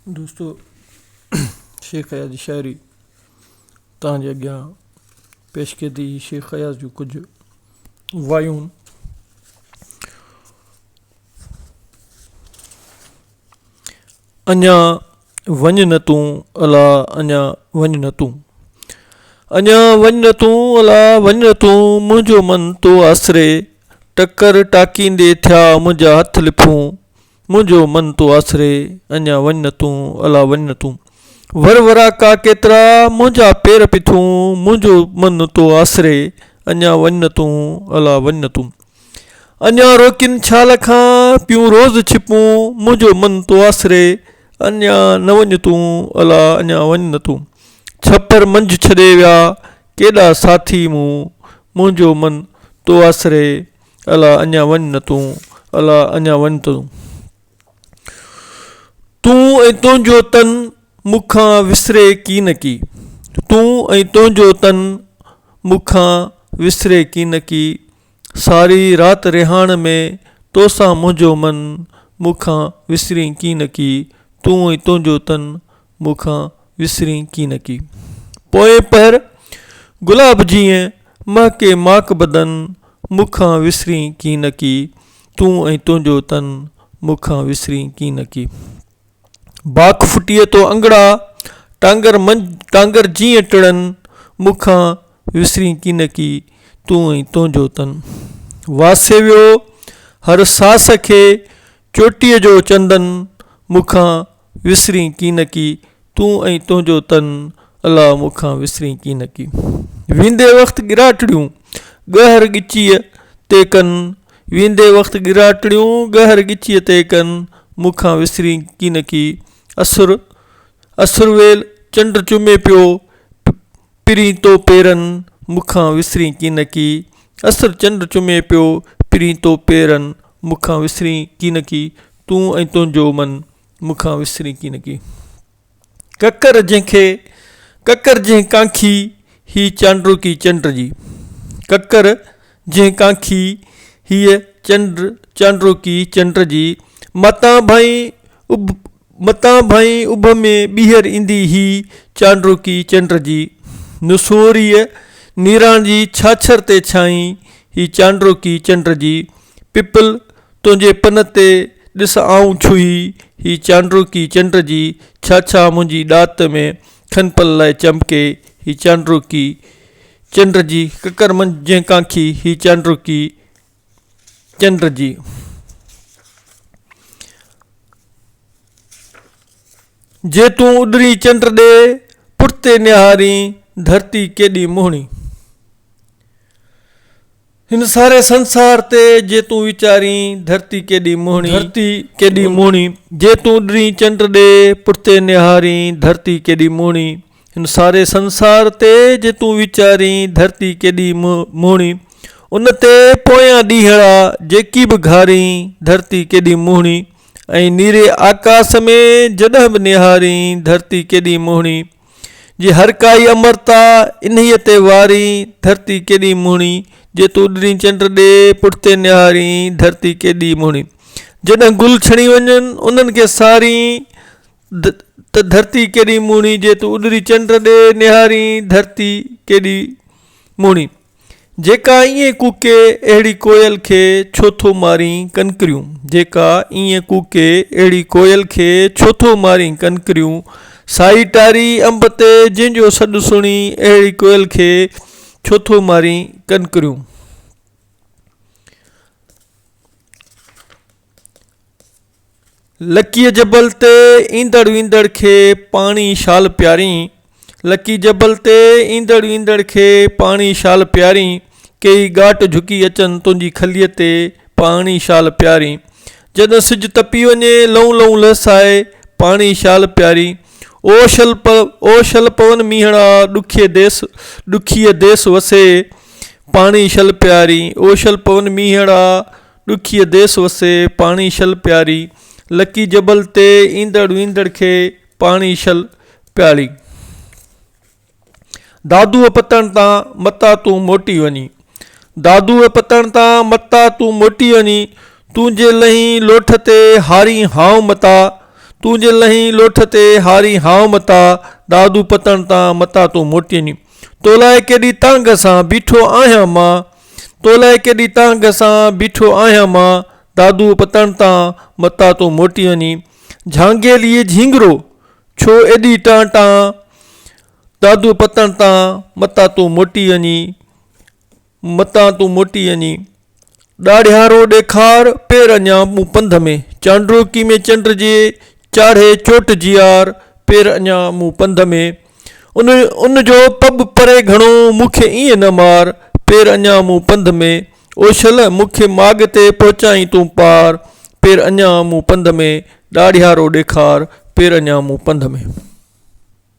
دوستو شيخ اياز جي شاعري توهان جي اڳيان پيش ڪئي ٿي شيخ اياز جون ڪجهه وايون اڃا وڃ نه تون الا اڃا وڃ نه تون اڃا وڃ نه تون الا وڃ نه تون منهنجو من تو آسري ٽڪر ٽاڪيندي ٿيا منهنجا هٿ لڦون منهنجو من تو آسري، اڃا وڃ نه تون، الا وڃ نه تون. ور وراڪا ڪيترا، منهنجا پير پٿون، منهنجو من تو آسري، اڃا وڃ نه تون، الا وڃ نه تون. اڃا روڪين ڇال کان، پيون روز ڇپون، منهنجو من تو آسري، اڃا نه وڃ تون، الا اڃا وڃ نه تون. ڇپر منجهه ڇڏي ويا، ڪيڏا ساٿي مون، منهنجو من تو آسري، الا اڃا وڃ نه تون، الا اڃا وڃ نه تون. تون ۽ تنهنجو تن مون کان وسري ڪين ڪي. تون ۽ تنهنجو تن مون کان وسري ڪين ڪي. ساري رات رهاڻ ۾ تو سان منهنجو من مون کان وسري ڪين ڪي. تون ۽ تنهنجو تن مون کان وسرين ڪين ڪي. پوئين پهر گلاب جيئن مهڪي ماڪ بدن مون کان وسرين ڪين ڪي. تون ۽ تنهنجو تن مون کان وسرين ڪين ڪي. باک ڦٽيء تو انگڙا ٽانگر منجهه ٽانگر جيئن ٽڙن مون کان وسرين ڪين ڪي. تون ۽ تنهنجو تن واسي ويو هر ساس کي. چوٽيء جو چندن مون کان وسرين ڪين ڪي تون ۽ تنهنجو تن الا مون کان وسرين ڪين ڪي ويندي وقت ڳراٽڙيون ڳهر ڳچيء تي ڪن ويندي وقت ڳراٽڙيون ڳهر ڳچيء تي ڪن مون کان وسرين ڪين ڪي اسر اسرويل چنڊ چمي پيو پرين تو پيرن مون کان وسرين ڪينڪي اسر چنڊ چمي پيو پرين تو پيرن مون کان وسرين ڪينڪي تون ۽ تنهنجو من مون کان وسرين ڪينڪي ڪڪر جنهن کي ڪڪر جنهن ڪانکي هي چانڊروڪي چنڊ جي ڪڪر جنهن ڪانکي هيء چنڊ چانڊروڪي چنڊ جي متان ڀائين اڀ متان ڀائين اڀ ۾ ٻيهر ايندي هي چانڊوڪي چنڊ جي نسوريء نيران جي ڇاڇر تي ڇانئين هي چانڊوڪي چنڊ جي پپل تنهنجي پن تي ڏس آئون ڇهي هي چانڊوڪي چنڊ جي ڇاڇا منهنجي ڏات ۾ کن پل لاء چمڪي هي چانڊوڪي چنڊ جي ڪڪر منجهه جنهن ڪانکي هي چانڊوڪي چنڊ جي جي تون اڏرين چنڊ ڏي پٺتي نهارين ڌرتي ڪيڏي مهڻي هن ساري سنسار تي جي تون ويچارين ڌرتي ڪيڏي مهڻي ڌرتي ڪيڏي مهڻي جي تون اڏرين چنڊ ڏي پٺتي نهارين ڌرتي ڪيڏي مهڻي. هن ساري سنسار تي جي تون ويچارين، ڌرتي ڪيڏي مهڻي، ان تي پويان ڏينهڙا جيڪي به گهارين، ڌرتي ڪيڏي مهڻي، ۽ نيري آڪاس ۾ جڏهن به نهارين، ڌرتي ڪيڏي مهڻي، جي هر ڪائي امرتا انهيء تي وارين، ڌرتي ڪيڏي مهڻي، جي تون ڏني چنڊ ڏي پٺتي نهارين، ڌرتي ڪيڏي مهڻي، جڏهن گل ڇڻي وڃن، انهن کي سارين، ته ڌرتي ڪيڏي مهڻي، جي تون اڏري چنڊ ڏي نهارين، ڌرتي ڪيڏي مهڻي. جيڪا ائين ڪوڪي، اهڙي ڪوئل کي ڇو ٿو مارين ڪنڪريون، جيڪا ائين ڪوڪي، اهڙي ڪوئل کي ڇو ٿو مارين ڪنڪريون، سائي ٽاري انب تي، جنهن جو سڏ سڻي، اهڙي ڪوئل کي ڇو ٿو مارين ڪنڪريون. لڪيء جبل تي ايندڙ ويندڙ کي پاڻي شال پيارين، لڪيء جبل تي ايندڙ ويندڙ کي پاڻي شال پيارين، ڪيئي ڳاٽ جهڪي اچن تنهنجي کليء تي پاڻي شال پيارين، جڏهن سج تپي وڃي لئون لئون لهسائي پاڻي شال پيارين، او شل او شل پون مينهڙا ڏکيء ديس ڏکيء ديس وسي پاڻي شل پيارين، او شل پون مينهڙا ڏکيء ديس وسي، پاڻي شل پياري. لڪي جبل تي، ايندڙ ويندڙ کي، پاڻي شل پياري. دادوء پتڻ تان، متان تون موٽي وڃي. دادوء پتڻ تان، متان تون موٽي وڃي. تون جي لئين لوٺ تي، هارين هانء متان. تون جي لئين لوٺ تي، هارين هانء متان. دادوء پتڻ تان، متان تون موٽي وڃي. تو لاء ڪيڏي تانگهه سان، بيٺو آهيان مان. تو لاء ڪيڏي تانگهه سان بيٺو آهيان مان دادوء پتڻ تان متان تون موٽي وڃين جهانگيليء جهينگرو! ڇو ايڏي ٽان ٽان دادوء پتڻ تان متان تون موٽي وڃين متان تون موٽي وڃين ڏاڙهيارو ڏيکار پير اڃا مون پنڌ ۾، چانڊوڪي ۾ چنڊ جي چاڙهي چوٽ جيار پير اڃا مون پنڌ ۾. ان ان جو پٻ پري گهڻو، مون کي ائين نه مار، پير اڃان مون پنڌ ۾، او شل! مون کي ماڳ تي پهچائين تون پار، پير اڃان مون پنڌ ۾، ڏاڙهيارو ڏيکار، پير اڃان مون پنڌ ۾.